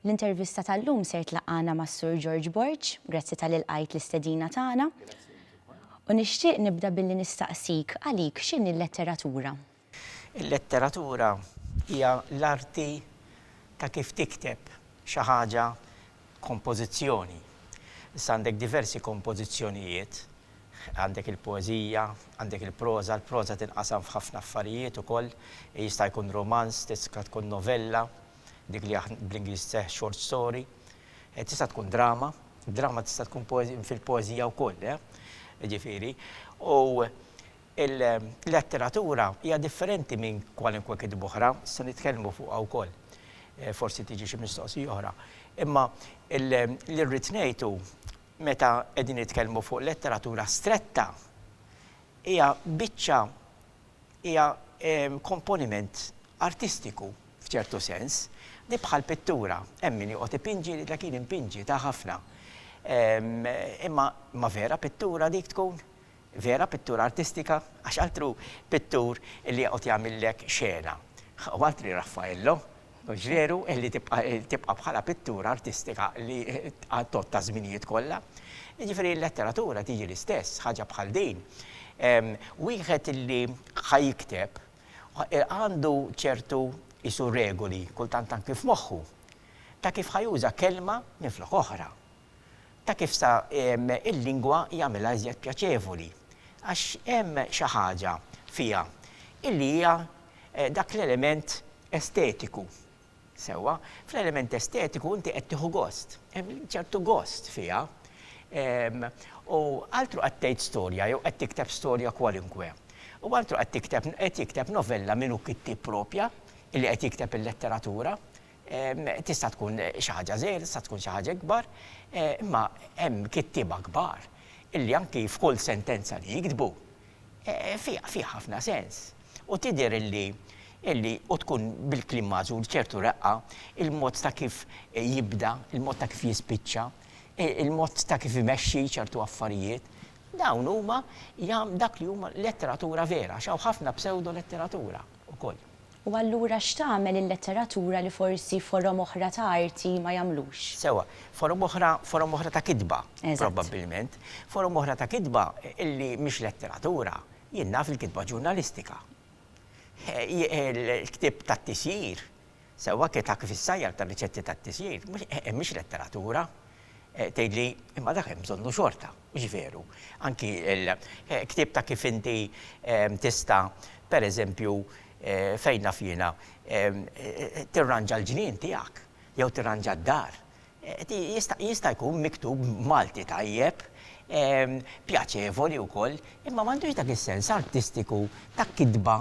L-intervista tal-lum ser tlaqqana mas-Sur George Borg, grazzi tal ilqajt l-istedina tagħna. U nixtieq nibda billi nistaqsik, għalik x'inhi l-letteratura? Il-letteratura hija l-arti ta' kif tikteb xi ħaġa, kompożizzjoni. Issa għandek diversi kompożizzjonijiet. Għandek il-poeżija, għandek il-proża, il-proża tinqasam f'ħafna affarijiet ukoll, jista' jkun rumanz, tista' tkun novella, dik li aħna bl-Ingliż tseħħ short story, tista' tkun drama, drama tista' tkun poeżija fil-poeżija wkoll, jiġifieri, u l-letteratura hija differenti minn kwalunkwe kitba oħra, se nitkellmu fuqha wkoll, forsi tiġi xi mistoqsija oħra, imma li rrid ngħid hu Meta qegħdin nitkellmu fuq letteratura stretta, hija biċċa, hija komponiment artistiku f'ċertu sens, li bħal pittura, hemm min joqgħod ipinġi jgħidlek jien inpinġi, ta' ħafna. Imma vera pittura dik tkun? Vera pittura artistika, għax altru pittur li joqgħod jagħmillek xena, u altri Raffaello, mhux veru, li tibqa' tibqa' bħala pittura artistika li għal tgħodd taż-żminijiet kollha. Jiġifieri l-letteratura tiġi l-istess ħaġa bħal din. Wieħed li ħa jikteb għandu ċertu qisu regoli, kultant anki f'moħħu, ta' kif ħa juża kelma minflok oħra. ta' kif sa il-lingwa jagħmilha iżjed pjaċevoli, għax hemm xi ħaġa fiha illi hija dak l-element estetiku. Sewwa, fl-element estetiku inti qed tieħu gost, hemm ċertu gost fiha. U altru qed tgħid storja jew qed tikteb storja kwalunkwe, u altru qed tikteb qed jikteb novella min hu kittieb proprja illi qed jikteb il-letteratura, Tista' tkun xi ħaġa żgħira, tista' tkun xi ħaġa ikbar, imma hemm kittieba kbar illi anki f'kull sentenza li jiktbu fiha ħafna sens. U tidher illi illi u tkun bil-kliem magħżul ċertu reqqa, il-mod ta' kif jibda, il-mod ta' kif jispiċċa, il-mod ta' kif imexxi ċertu affarijiet, dawn huma dak li huma letteratura vera, għax hawn ħafna psewdo-letteratura. ukoll. U allura x'tagħmel il-letteratura li forsi forom oħra ta' arti ma jagħmlux? Sewwa. Forom oħra, forom oħra ta' kitba. Eżatt. Probabbilment. Forom oħra ta' kitba li mhix letteratura. Jien naf il-kitba ġurnalistika. Il-ktieb tat-tisjir Sewwa tgħidha kif is-sajjar tar-riċetti tat-tisjir mhix letteratura. Tgħidli, imma dak hemm bżonnu xorta, mhux veru? Anki l-ktieb ta' kif inti tista' pereżempju, fejn naf jiena, tirranġa l-ġnien tiegħek jew tirranġa d-dar. Jista' jkun miktub b'Malti tajjeb, pjaċevoli wkoll, imma m'għandux dak is-sens artistiku ta' kitba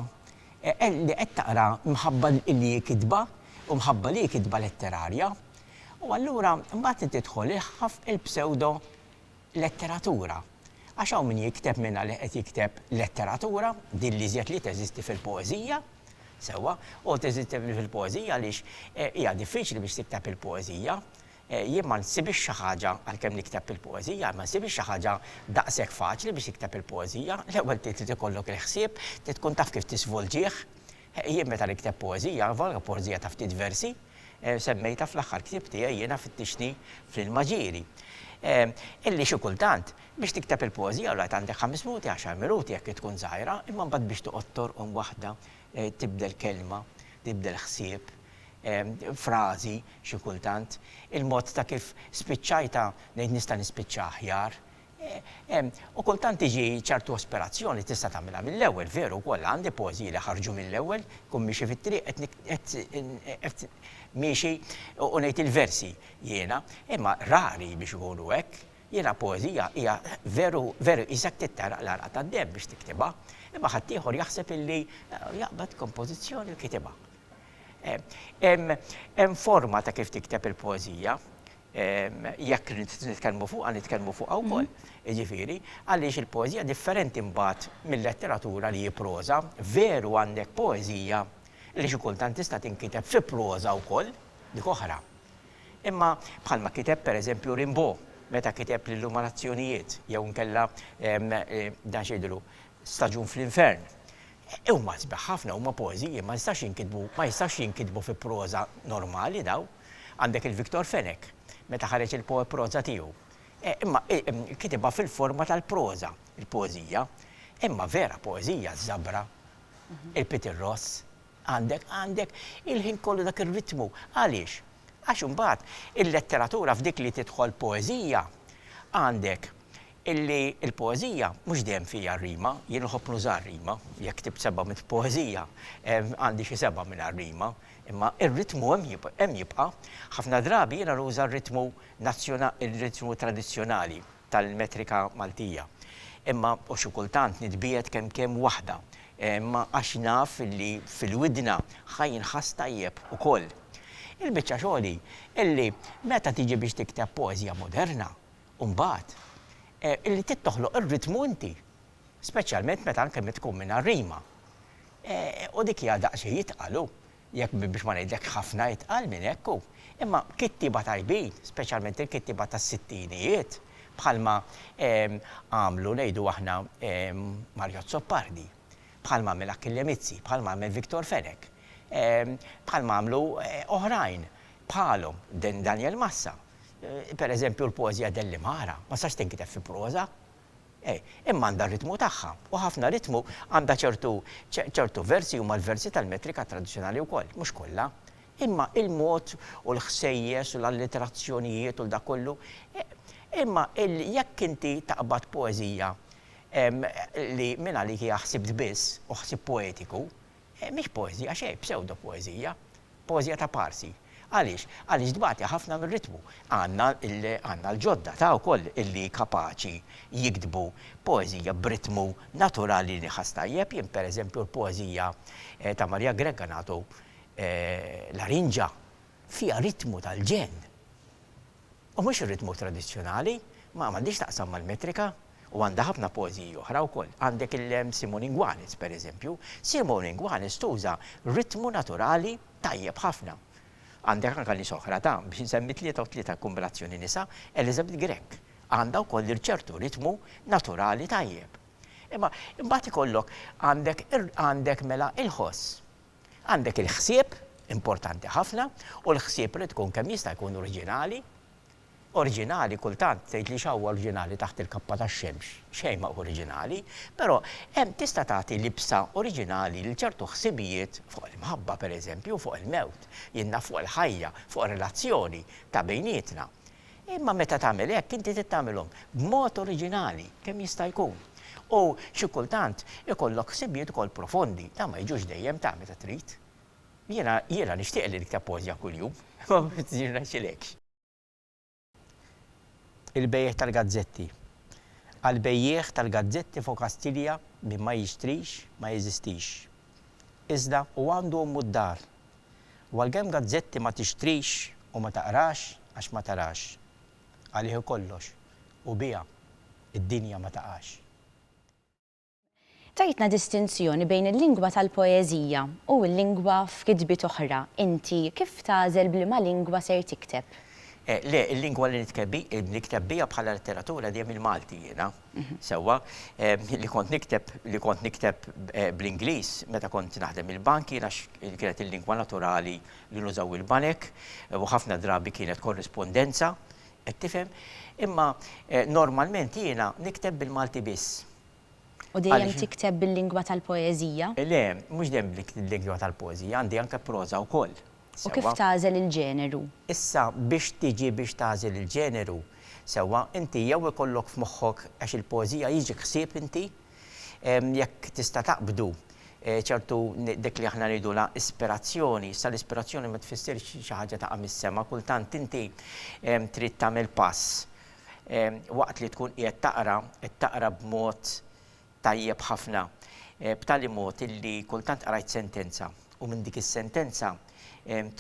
li qed taqra mħabba li hi kitba u mħabba li hi kitba letterarja. U allura mbagħad li tidħol il-ħħaf il-psewdo letteratura. Għax hawn min jikteb minn għalih qed jikteb letteratura, din l-iżjed li teżisti fil-poeżija, sewwa, u teżisti fil-poeżija għaliex hija diffiċli biex tikteb il-poeżija, Jien ma nsibhiex xi ħaġa, għalkemm nikteb il-poeżija, ma nsibhiex xi ħaġa daqshekk faċli biex tikteb il-poeżija. L-ewwel trid ikollok il-ħsieb, trid tkun taf kif tiżvolġih. Jien meta nikteb poeżija, anvolga poeżija ta' ftit versi, semmejtha fl-aħħar ktieb tiegħi Jiena fittixtni fl-ilma ġieli. Illi xi kultant, biex tikteb il-poeżija l-wieħed għandek ħames minuti, għaxar minuti jekk hi tkun żgħira, imma mbagħad biex toqgħod torqom waħda, tibdel kelma, tibdel ħsieb, frażi xi kultant, il-mod ta' kif spiċċajtha ngħid nista' nispiċċa aħjar. U kultant tiġi ċertu aspirazzjoni tista' tagħmilha mill-ewwel, veru wkoll għandi poeżiji li ħarġu mill-ewwel, inkun miexi fit-triq qed miexi u ngħid il-versi jiena, imma rari biex ikunu hekk. Jiena poeżija hija veru veru qisek trid tagħraq l-għaraq tad-deheb biex tiktibha, imma ħaddieħor jaħseb illi jaqbad kompożizzjoni u kitibha. Hemm forma ta' kif tikteb il-poeżija, jekk nitkellmu fuqha nitkellmu fuqha wkoll, jiġifieri, għaliex il-poeżija differenti mbagħad mil-letteratura li hi proża, veru għandek poeżija li xi kultant tista' tinkiteb fi proża wkoll, dik oħra. Imma bħalma kiteb pereżempju Rimbaud meta kiteb l-Illumanazzjonijiet jew inkella dan x'jgħidulu Staġun fl-Infern. Huma sbieħ ħafna, huma poeżiji, ma jistax jinkitbu, ma jistax jinkitbu fi proża normali dawn. Għandek il-Victor Fenech, meta ħareġ il-poeproża tiegħu. Imma kitibha fil-forma tal-proża, il-poeżija. Imma vera poeżija ż-Żabra, il-Peter Ross, għandek, għandek il-ħin kollu dak ir-ritmu. Għaliex? Għax imbagħad il-letteratura f'dik li tidħol poeżija, għandek Illi l-poeżija mhux dejjem fiha r-rima, jien nħobb nuża r-rima, jekk ktibt seba' mitt poeżija, għandi xi sebgħa mingħajr rima, imma r-ritmu hemm jibqa'. Ħafna drabi jiena nuża r-ritmu r-ritmu tradizzjonali tal-metrika Maltija, imma u xi kultant nitbiegħed kemm kemm waħda, imma għax naf illi fil-widna ħa jinħass tajjeb ukoll. Il-biċċa xogħol hi illi meta tiġi biex tikteb poeżija moderna, U mbagħad, li trid toħloq ir-ritmu inti, speċjalment meta anke minn tkun mingħajr rima. U dik hija daqsxejn itqal hu, jekk biex ma ngħidlekx ħafna itqal minn hekk hu. Imma kittieba tajbin, speċjalment il-kittieba tas-sittinijiet, bħalma għamlu ngħidu aħna Mario Azzopardi, bħalma għamel Achille Mizzi, bħalma għamel Victor Fenech, bħalma għamlu oħrajn bħalhom, Daniel Massa, Per eżempju, l-poeżija dell-Imara ma tistax tinkiteb fi proża. Imma għandha r-ritmu tagħha, u ħafna ritmu għandha ċertu ċertu versi huma l-versi tal-metrika tradizzjonali wkoll, mhux kollha. Imma il-mod u l-ħsejjes u l-allitterazzjonijiet u l-dak kollu, imma jekk inti taqbad poeżija li mingħalik hija ħsibt biss u ħsieb poetiku, Mhix poeżija xejn, psewdopoeżija. Poeżija ta' parsi. Għaliex? Għaliex tbati ħafna mir-ritmu. Għandna għandna l-ġodda ta' wkoll illi kapaċi jiktbu poeżija b'ritmu naturali li nħass tajjeb. Jien pereżempju l-poeżija ta' Maria Grech Ganatu Larinġa fiha ritmu tal-ġenn. U mhux ir-ritmu tradizzjonali, ma għandhiex x'taqsam mal-metrika, u għandha ħafna poeżiji oħra wkoll. Għandek il-Simon Ingwanis, pereżempju. Simon Ingwanis tuża ritmu naturali tajjeb ħafna. Għandek anke nies oħra ta', biex insemmi tlieta u tlieta kombinazzjoni nisa, Elizabeth Grech, għandha wkoll ċertu ritmu naturali tajjeb. Imma imbagħad ikollok, għandek, għandek mela il-ħoss. Għandek il-ħsieb, importanti ħafna, u l-ħsieb irid ikun kemm jista' jkun oriġinali. Oriġinali kultant tgħid li x'hawn oriġinali taħt il-kappa tax-xemx? Xejn ma hu oriġinali. Però hemm tista' tagħti libsa oriġinali lil ċertu ħsibijiet fuq il-mħabba, pereżempju, fuq il-mewt, jien naf fuq il-ħajja, fuq relazzjoni ta' bejnietna. Imma meta tagħmel hekk, inti trid tagħmilhom b'mod oriġinali kemm jista' jkun. U xi kultant ikollok ħsibijiet ukoll profondi, dawn ma jiġux dejjem ta' meta trid. Jiena, jiena nixtieq li nikteb poeżja kuljum, imma ma jirnexxilekx. Il-bejjiegħ tal-gazzetti. Għall-bejjiegħ tal-gazzetti f'Okastilja, min ma jixtrix, ma jeżistix. Iżda hu għandu ommu d-dar. U għalkemm gazzetti ma tixtrix u ma taqrax għax ma tarax. Għalih ikollox u biha d-dinja ma taqax. Tgħidna distinzjoni bejn il-lingwa tal-poeżija u l-lingwa f'kitbiet oħra, inti kif tagħżel b'liema lingwa ser tikteb? Le, il-lingwa li nikteb biha bħala letteratura dejjem il-Malti jiena. sewwa, li kont nikteb li kont nikteb bl-Ingliż meta kont naħdem il-bank jiena kienet il-lingwa naturali li nużaw il-banek u ħafna drabi kienet korrispondenza, qed tifhem? Imma normalment jiena nikteb bil-Malti biss. U dejjem tikteb bil-lingwa tal-poeżija? Le, mhux dejjem bil-lingwa tal-poeżija, għandi anke proża wkoll. U kif tagħżel il-ġeneru? Issa biex tiġi biex tagħżel il-ġeneru, sewwa, inti jew ikollok f'moħħok, għax il-poeżija jiġi ħsieb inti, jekk tista' taqbdu ċertu dik li aħna ngħidulha ispirazzjoni, issa l-ispirazzjoni ma tfissirx xi ħaġa taqa' mis-sema, kultant inti trid tagħmel pass waqt li tkun qiegħed taqra, qed taqra b'mod tajjeb ħafna b'tali mod illi kultant qrajt sentenza u minn dik is-sentenza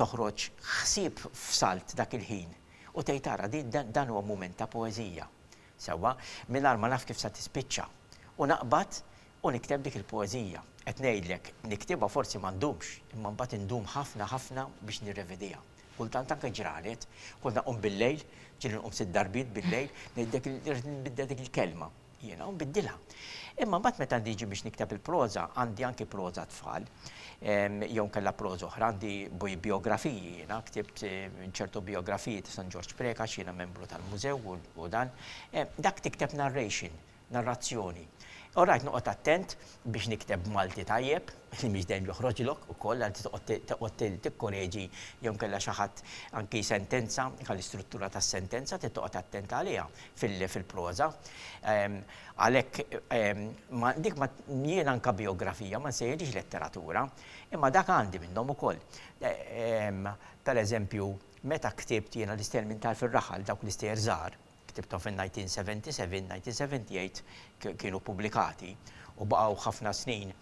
toħroġ ħsieb f'salt dak il-ħin u tgħid ara dan huwa mument ta' poeżija sewwa mingħajr ma naf kif se tispiċċa u naqbad u nikteb dik il-poeżija. Qed ngħidlek niktibha forsi ma ndumx imma mbagħad indum ħafna ħafna biex nirrevidiha. Kultant anke ġranet, kont nqum bil-lejl, ġieli nqum sitt darbiet bil-lejl, ngħidlek irrid nbiddel dik il-kelma. you know, biddilha. Imma mbagħad meta niġi biex nikteb il-proża, għandi anki proża tfal, jew nkella proża oħra, għandi biografiji jiena, ktibt ċertu biografiji ta' San Ġorġ Preca għax jiena membru tal-mużew u dan. Dak tikteb narration, narrazzjoni. Orajt noqgħod attent biex nikteb Malti tajjeb, li mhix dejjem joħroġlok ukoll, anzi toqgħod tikkoreġi jew inkella xi ħadd anki sentenza, anke l-istruttura tas-sentenza trid toqgħod attent għaliha fil-proża. Għalhekk dik ma, jien anke bijografija ma nsejħilhiex letteratura, imma dak għandi minnhom ukoll. Pereżempju, meta ktibt jiena l-Istejjer minn Tarf ir-Raħal, dawk l-istejjer żgħar, ktibthom fin-1977, 1978 kienu ppubblikati u baqgħu ħafna snin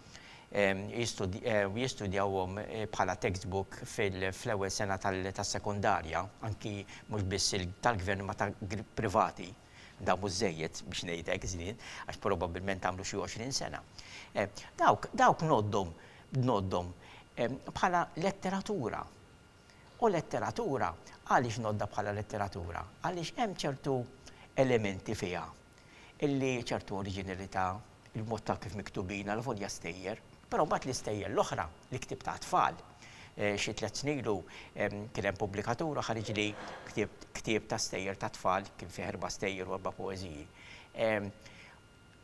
jistudjawhom bħala textbook fl-ewwel sena tas-sekondarja, anki mhux biss tal-gvern imma ta' privati, dawn mhux żejjed biex ngħidlek żmien għax probabbilment għamlu xi għoxrin sena. Dawk ngħoddhom ngħoddhom bħala letteratura. U letteratura, għaliex ngħoddha bħala letteratura? Għaliex hemm ċertu elementi fiha illi ċertu oriġinilità, il-mod ta' kif miktubin, alavolja stejjer, però mbagħad l-istejjer l-oħra, l-ktieb ta' tfal. Xi tliet snin ilu kien hemm pubblikatura ħariġli ktieb ta' stejjer ta' tfal, kien fih erba' stejjer u erba' poeżiji.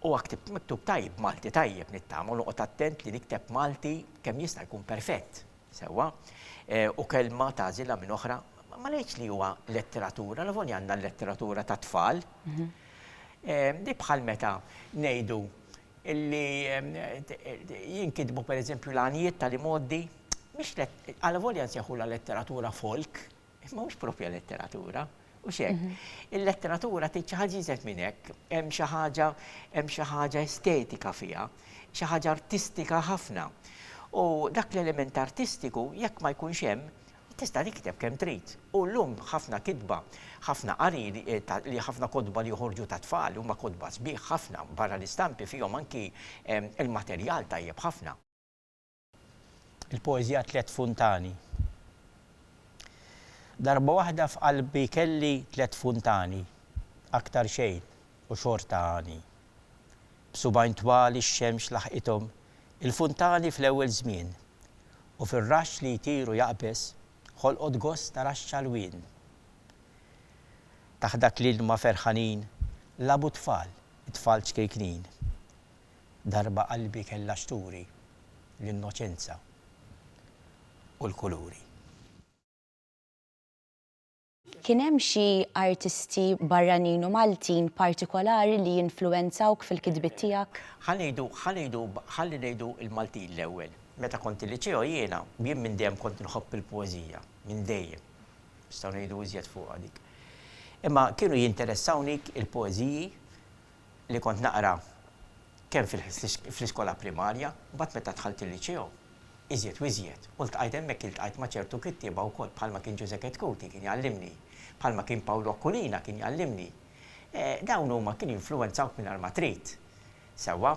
Huwa ktieb miktub tajjeb b'Malti tajjeb nittama u noqgħod attent li nikteb Malti kemm jista' jkun perfett, sewwa, u kelma tagħżilha minn oħra. Ma ngħidx li huwa letteratura, allavolja għandna l-letteratura tat-tfal. Hi bħal meta ngħidu li jinkitbu pereżempju l-għanjiet tal-imgħoddi, mhix, allavolja nsejħulha letteratura folk, Imma mhux proprja letteratura, hux hekk. Il-letteratura tgħid xi ħaġa iżgħed minn hekk, hemm xi ħaġa hemm xi ħaġa estetika fiha, xi ħaġa artistika ħafna. U dak l-element artistiku jekk ma jkunx hemm, tista' tikteb kemm trid. U llum ħafna kitba, ħafna qari li ħafna kotba li joħorġu ta' tfal huma kotba sbieħ ħafna, barra l-istampi fihom anki il-materjal tajjeb ħafna. Il-poeżija Tliet Funtani Darba waħda f'qalbi kelli tliet funtani, aktar xejn u xorta għani. B'subgħajn twal ix-xemx laħqithom il-funtani fl-ewwel żmien, u fir-raxx li jtir u jaqbeż ħolqot gost ta' raxx għalwien. Taħt dak l-ilma ferħanin lagħbu t-tfal, it-tfal ċkejknin. Darba qalbi kellha x'turi l-innoċenza u l-kuluri. Kien hemm xi artisti barranin u Maltin partikolari li influwenzawk fil-kitbiet tiegħek? Ħa ngħidu, ħa ngħidu, ħalli ngħidu l-Maltin l-ewwel. Meta kont il-liċeo jiena, jien minn dejjem kont nħobb il-poeżija, minn dejjem. Nistgħu ngħidu iżjed fuqha dik. Imma kienu jinteressawni il-poeżiji li kont naqra kemm fl-iskola primarja, mbagħad meta dħalt il-liċeo, iżjed u iżjed, u ltqajt hemmhekk iltqajt ma' ċertu kittieba wkoll bħalma kien Ġużeppe Tcuti kien jgħallimni, bħalma kien Pawlu Aquilina kien jgħallimni. Dawn huma kienu jinfluwenzawk mingħajr ma trid. Sewwa?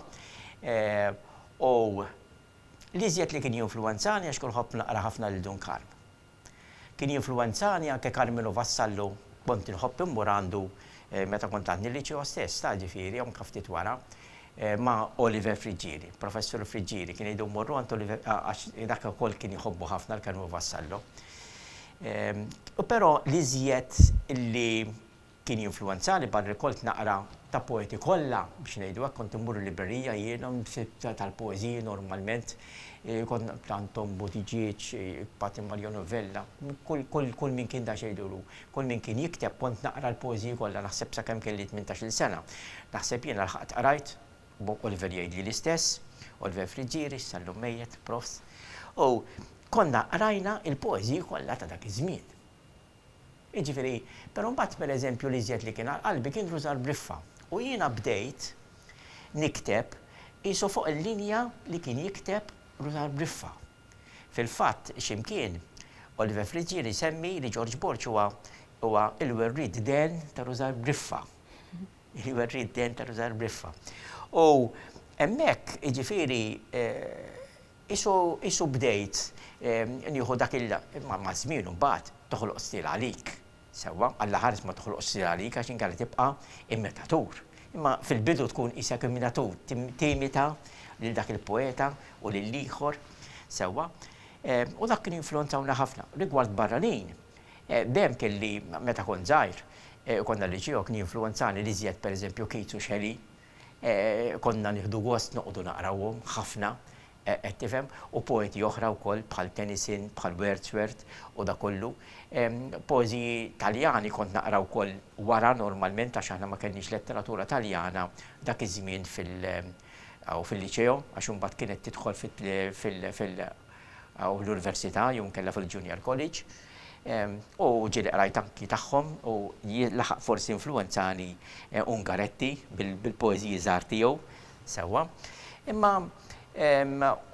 U l-iżjed li kien jinfluwenzani għax kont nħobb naqra ħafna lil Dun Karm. Kien jinfluwenzani anke Carmelo Vassallo, kont inħobb immur għandu meta kont għadni l-liċeo stess, ta' ġifieri anke ftit wara, ma' Oliver Friggieri, Professur Friggieri, kien jgħidu mmorru għand Oliver għax dak ukoll kien jħobbu ħafna l-Carmelo Vassallo. Però l-iżjed li. Kien jinfluwenzani barri kont naqra ta' poeti kollha biex ngħidu hekk, kont immur il-librerija jiena tal-poeżiji normalment, kont naqra Anton Buttigieg, Paty Maria Novella, kull min kien daqsxejn duru, kull min kien jikteb kont naqra l-poeżiji kollha naħseb sakemm kelli tmintax-il sena. Naħseb jiena lħaqt qrajt, bo Oliver jgħidli l-istess, Oliver Friggieri, sal-lum mejjet, prof. U konna qrajna l-poeżiji kollha ta' dak iż-żmien. Jiġifieri, però mbagħad pereżempju l-iżjed li kien għal qalbi kien Rużar Briffa u jiena bdejt nikteb qisu fuq il-linja li kien jikteb Rużar Briffa. Fil-fatt, x'imkien, Oliver Friggieri jsemmi li Ġorġ Borg huwa huwa l-werriet dehn ta' Rużar Briffa. Il-werriet dehn ta' Rużar Briffa. U hemmhekk, jiġifieri, Qisu bdejt nieħu dak il. Imma maż-żmien imbagħad toħloq stil għalik. Sewwa, Alla ħares ma toħloqx stil għalik għax inkella tibqa' imitatur. Imma fil-bidu tkun qisek imitatur, timita lil dak il-poeta u lill-ieħor. Sewwa? U dak kien jinfluwenzawna ħafna. Rigward barranin, dejjem kelli, meta kont żgħir, konna l-liċew, kien jinfluwenzani l-iżjed pereżempju Keats u Shelley. Konna nieħdu gost noqogħdu naqrawhom, ħafna, qed tifhem, u poeti oħra wkoll bħal Tennyson, bħal Wordsworth u dak kollu. Poeżiji Taljani kont naqra wkoll wara normalment għax aħna ma kellniex letteratura Taljana dak iż-żmien fil-Liceo għax imbagħad kienet tidħol fil-, u l-Università jew inkella fil-Junior College u ġieli qrajt anki tagħhom u laħaq forsi influwenzani Ungaretti bil-poeżiji żgħar tiegħu sewwa. Imma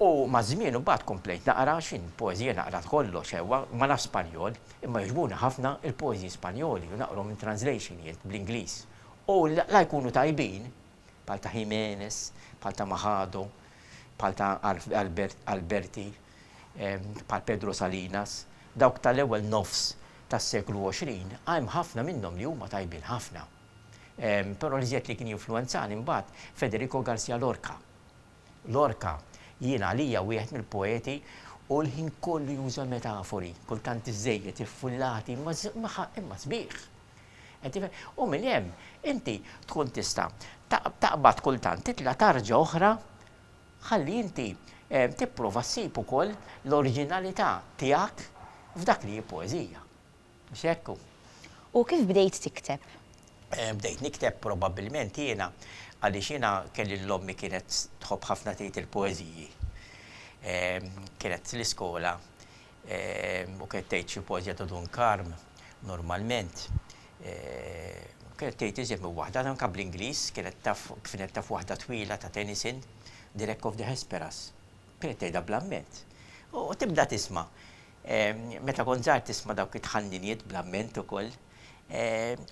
u maż-żmien imbagħad komplejt naqra għax jien poeżija naqra kollox sewwa, ma nafx Spanjol imma jogħġbuni ħafna l-poeżiji Spanjoli u naqrahom in translation jien bl-Ingliż u la jkunu tajbin, bħal ta' Jimenez, bħal ta' Machado, bħal ta' Alberti, bħal Pedro Salinas, dawk tal-ewwel nofs tas-seklu 20, hemm ħafna minnhom li huma tajbin ħafna. Però l-iżjed li kien jinfluwenzani mbagħad Federico Garcia Lorca. Lorca jien għalija wieħed mill-poeti u l-ħin kollu juża metafori, kultant iżżejjed, iffullati, imma sbieħ. Qed tifhem? U minn hemm inti tkun tista' taqbad kultant titla' tarġa oħra ħalli inti tipprova ssib ukoll l-oriġinalità tiegħek f'dak li hi poeżija. Mhux hekk hu? U kif bdejt tikteb? Bdejt nikteb probabbilment jiena għaliex jiena kelli lil ommi kienet tħobb ħafna tgħid il-poeżiji. Kienet l-iskola U kienet tgħid xi poeżija ta' Dun Karm, normalment. U kienet tgħid iżjed minn waħda, anke bl-Ingliż, kienet taf, kienet taf waħda twila ta' Tennyson, The Wreck of the Hesperus. Kienet tgħidha bl-amment. U tibda tisma'. Meta kont żgħir tisma' dawk it-tħanniniet bl-amment ukoll.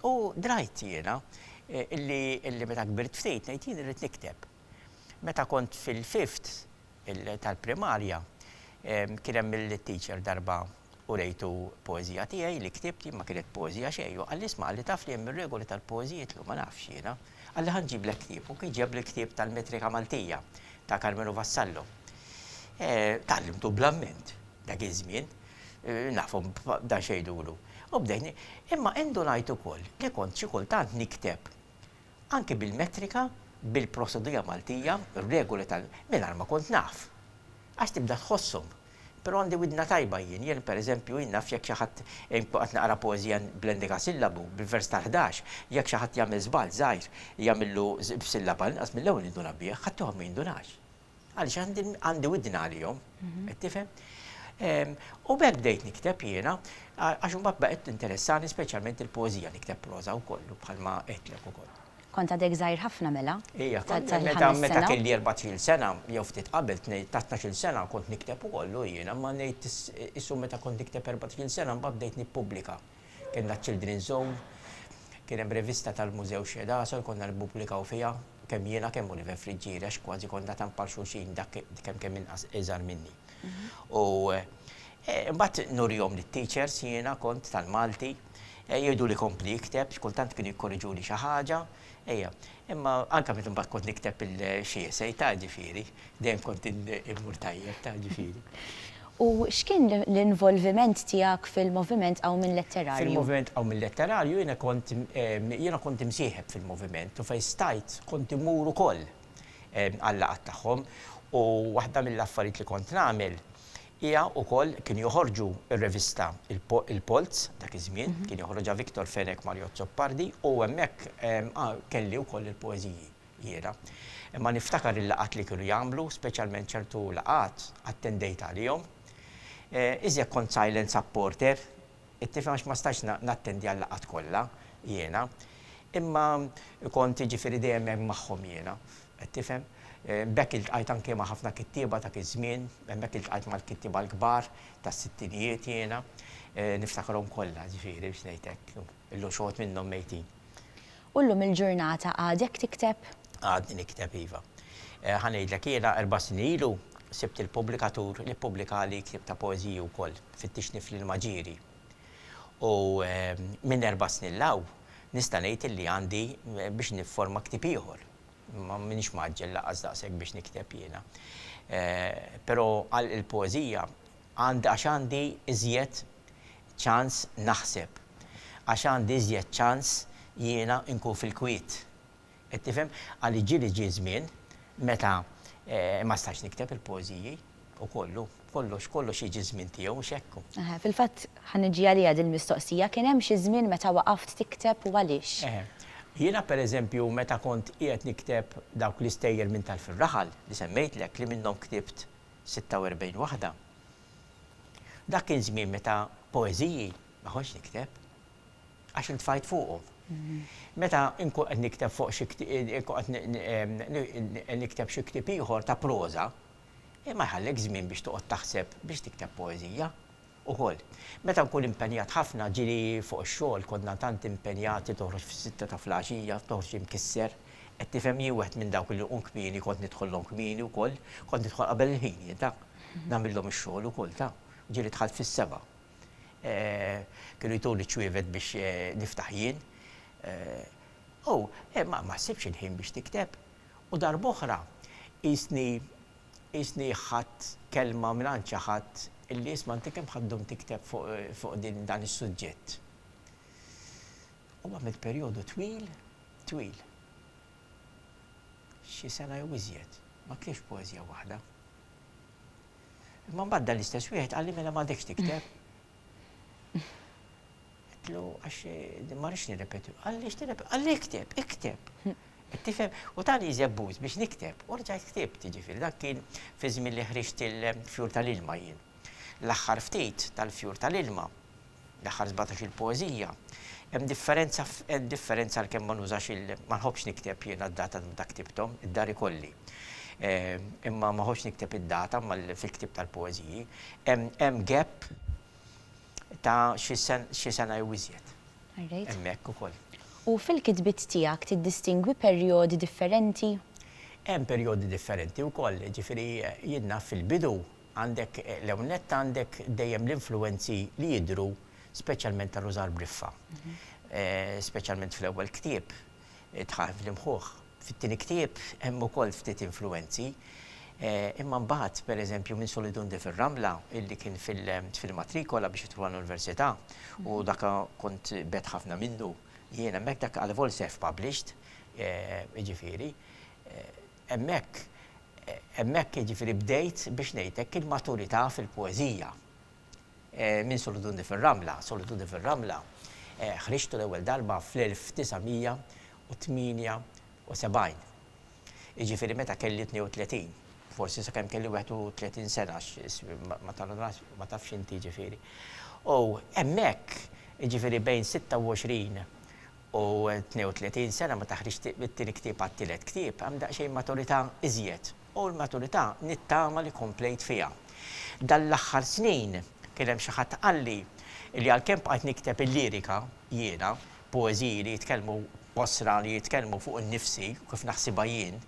U drajt jiena illi meta kbirt ftit ngħid jien irrid nikteb. Meta kont fil-fifth tal-primarja, kien hemm il-teacher darba urejtu poeżija tiegħi li ktibt jien, ma kienet poeżija xejn, u qalli isma' qalli taf li hemm ir-regoli tal-poeżi jitlu, ma nafx jiena. Qalli ħa nġiblek ktieb, u kien ġiebli l-ktieb tal-Metrika Maltija ta' Karmenu Vassallo. Tgħallimtu bl-amment dak iż-żmien, nafhom b'dan x'għidulu. U bdejt, imma indunajt ukoll li kont xi kultant nikteb Anki bil-metrika, bil-prosedura Maltija, r-regoli tal. Mingħajr ma kont naf. Għax tibda tħosshom. Però għandi widna tajba jien. Jien, per eżempju, jien naf jekk xi ħadd, inkun qed naqra poeżija bl-endekasillabu, bil-vers tal-ħdax, jekk xi ħadd jagħmel żball żgħir, jagħmillu b'sillaba inqas mill-ewwel ninduna bih, ħaddieħor ma jindunax. Għaliex għandi widni għalihom, qed tifhem? U b'hekk bdejt nikteb jiena, għax imbagħad baqgħet tinteressani speċjalment il-poeżija, nikteb proża wkoll bħalma qedtlek ukoll. Kont għadek żgħir ħafna mela? Ija, meta meta kelli 14 sena, jew ftit qabel ta' 12 sena kont nikteb ukoll jiena, ma ngħid issu meta kont nikteb 14 sena mbagħad bdejt nippubblika. Kellna ċ-Children's Zone, kien hemm rivista tal-Mużew Xhieħ Dagħasel konna nippubblikaw fiha, kemm jiena kemm Oliver Friggieri għax kważi konna tant bħal xulxin dak kemm kemm inqas iżgħar minni. U mbagħad nurihom lit-teachers jiena kont tal-Malti, jgħiduli kompli ikteb, x'kultant kienu jikkorriġuli xi ħaġa. Ejja, imma anke meta mbagħad kont nikteb il-xi essay, ta' ġifieri, dejjem kont immur tajjeb, ta' ġifieri. U x'kien l-involviment tiegħek fil-Moviment Qawm Minn Letterarju? Fil-Moviment Qawm Minn Letterarju jiena kont jiena kont imsieħeb fil-Moviment u fejn stajt kont immur ukoll għal-laqgħat tagħhom u waħda mill-affarijiet li kont nagħmel Hija u koll kien joħorġu r-revista Il-Polz, dak iż-żmien, kien joħroġha Victor Fenech Mario Azzopardi u hemmhekk kelli u koll il-poeżiji jiena. Imma niftakar il-laqgħat li kienu jagħmlu, speċjalment ċertu laqgħat attendejt għalihom. Iżjed kont silent supporter, tifhem għax ma stajtx nattendi għal-laqgħat kollha jiena. Imma kont jiġifieri dejjem hemm magħhom jiena. Qed tifhem? B'hekk iltqajt anke ma' ħafna kittieba dak iż-żmien, hemmhekk iltqajt mal-kittieba l-kbar tas-sittinijiet jiena, niftakarhom kollha, ġifieri biex ngħid hekk. Illum xi wħud minnhom mejtin. U llum il-ġurnata għadek tikteb? Għadni nikteb, iva. Ħa ngħidlek, jiena erba' snin ilu sibt il-pubblikatur li ppubblikali ktieb ta' poeżiji wkoll, Fittixni fl-ilma ġieri. U minn erba' snin 'l hawn nista' ngħid illi għandi biex nifforma ktieb ieħor. Ma m'iniex mgħaġġel lanqas daqshekk biex nikteb jiena. Però għal il-poeżija għand għax għandi iżjed ċans naħseb. Għax għandi iżjed ċans jiena nkun fil-kwiet. Qed tifhem? Għaliex ġieli ġie żmien meta ma stajtx nikteb il-poeżiji. U kollu, kollox, kollox jiġi ż-żmien tiegħu, mhux hekk hu? Eħe, fil-fatt ħa niġi għaliha dil-mistoqsija, kien hemm xi żmien meta waqaft tikteb u għaliex? Eħe. Jiena per eżempju meta kont qiegħed nikteb dawk l-istejjer minn Tal fir-Raħal li semmejtlek li minnhom ktibt 46 waħda, dak kien żmien meta poeżiji ma kontx nikteb għax intfajt fuqhom. Meta nkun qed nikteb fuq xi qed nikteb xi ktieb ieħor ta' proża, Imma jħallek żmien biex toqgħod taħseb biex tikteb poeżija ukoll. Meta nkun impenjat ħafna, ġieli fuq ix-xogħol, konna tant impenjati toħroġ fis-sitta ta' flgħaxija, toħroġ imkisser, qed tifhem jien wieħed minn dawk li jqum kmieni, kont nidħollhom kmieni wkoll, kont nidħol qabel il-ħin jien taf, nagħmillhom ix-xogħol ukoll taf. Ġieli dħalt fis-sebgħa. Kienu jtuni ċ-ċwievet biex niftaħ jien. Hu, ma ssibx il-ħin biex tikteb. U darb'oħra qisni qisni ħadt kelma mingħand xi ħadd illi isma' inti kemm ħa ddum tikteb fuq fuq din dan is-suġġett? U għamilt perjodu twil twil. Xi sena jew iżjed. Ma ktiftx poeżija waħda. Imma mbagħad dan l-istess wieħed qalli mela m'għadekx tikteb. Għedtlu għax ma rridx nirrepeti. Għaliex tirrepeti? Għalli ikteb, ikteb. Qed tifhem? U tani żebbuż biex nikteb. U rġajt ktibt, jiġifieri dak kien fi żmien li ħriġt il-Fjur tal-Ilma jien. L-aħħar ftit tal-Fjur tal-Ilma, l-aħħar sbatax-il poeżija, hemm differenza hemm differenza għalkemm ma nużax il ma nħobbx nikteb jiena d-data ta' meta ktibthom, id-dar ikolli. Imma ma nħobbx nikteb id-data mal fil-ktieb tal-poeżiji. Hemm gap ta' xi sena jew iżjed. Alright. Hemmhekk ukoll. U fil-kitbiet tiegħek tiddistingwi perjodi differenti? Hemm perjodi differenti wkoll. Jiġifieri jien naf fil-bidu għandek l-ewwel nett għandek dejjem l-influwenzi li jidhru speċjalment tal-użar briffa. Speċjalment fl-ewwel ktieb. Dħal fl-imħuħ. Fit-tieni ktieb hemm ukoll ftit influwenzi, imma mbagħad, per eżempju, minn Solidunde fir-Rambla, illi kien fil-matrikola biex jidħlu għall-Università, u dak kont bgħedt ħafna minnu jien hemmhekk, dak għal vol self published, jiġifieri, hemmhekk, hemmhekk jiġifieri bdejt biex ngħid hekk il-maturità fil-poeżija. Minn Solitudni fir-Ramla, Solitudni fir-Ramla, ħriġtu l-ewwel darba fl-1978, jiġifieri meta kelli 32, forsi sakemm kelli 31 sena għax ma tgħallmnax, ma tafx inti jiġifieri. U hemmhekk, jiġifieri bejn 26 u 32 sena meta ħriġt it-tieni ktieb għat-tielet ktieb, hemm daqsxejn maturità iżjed. U l-maturità nittama li komplejt fiha. Dan l-aħħar snin kien hemm xi ħadd qalli li għalkemm bqajt nikteb il-lirika jiena, poeżiji li jitkellmu b'qosra li jitkellmu fuq innifsi u kif naħsibha jien,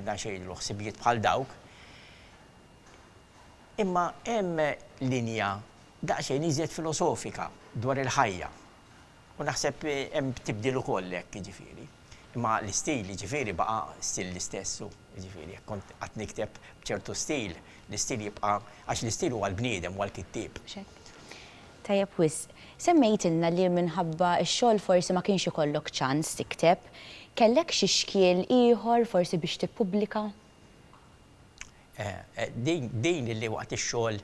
daqsxejn ilu ħsibijiet bħal dawk, imma hemm linja daqsxejn iżjed filosofika dwar il-ħajja. U naħseb hemm tibdil ukoll hekk jiġifieri. Imma l-istil, jiġifieri, baqa' stil l-istess u, jiġifieri, jekk kont qatt nikteb b'ċertu stil, l-istil jibqa' għax l-istil huwa l-bniedem, huwa l-kittieb. Mhux hekk? Tajjeb wisq. Semmejtilna li minħabba x-xogħol forsi ma kienx ikollok ċans tikteb. Kellek xi xkiel ieħor forsi biex tippubblika? Din li waqt ix-xogħol,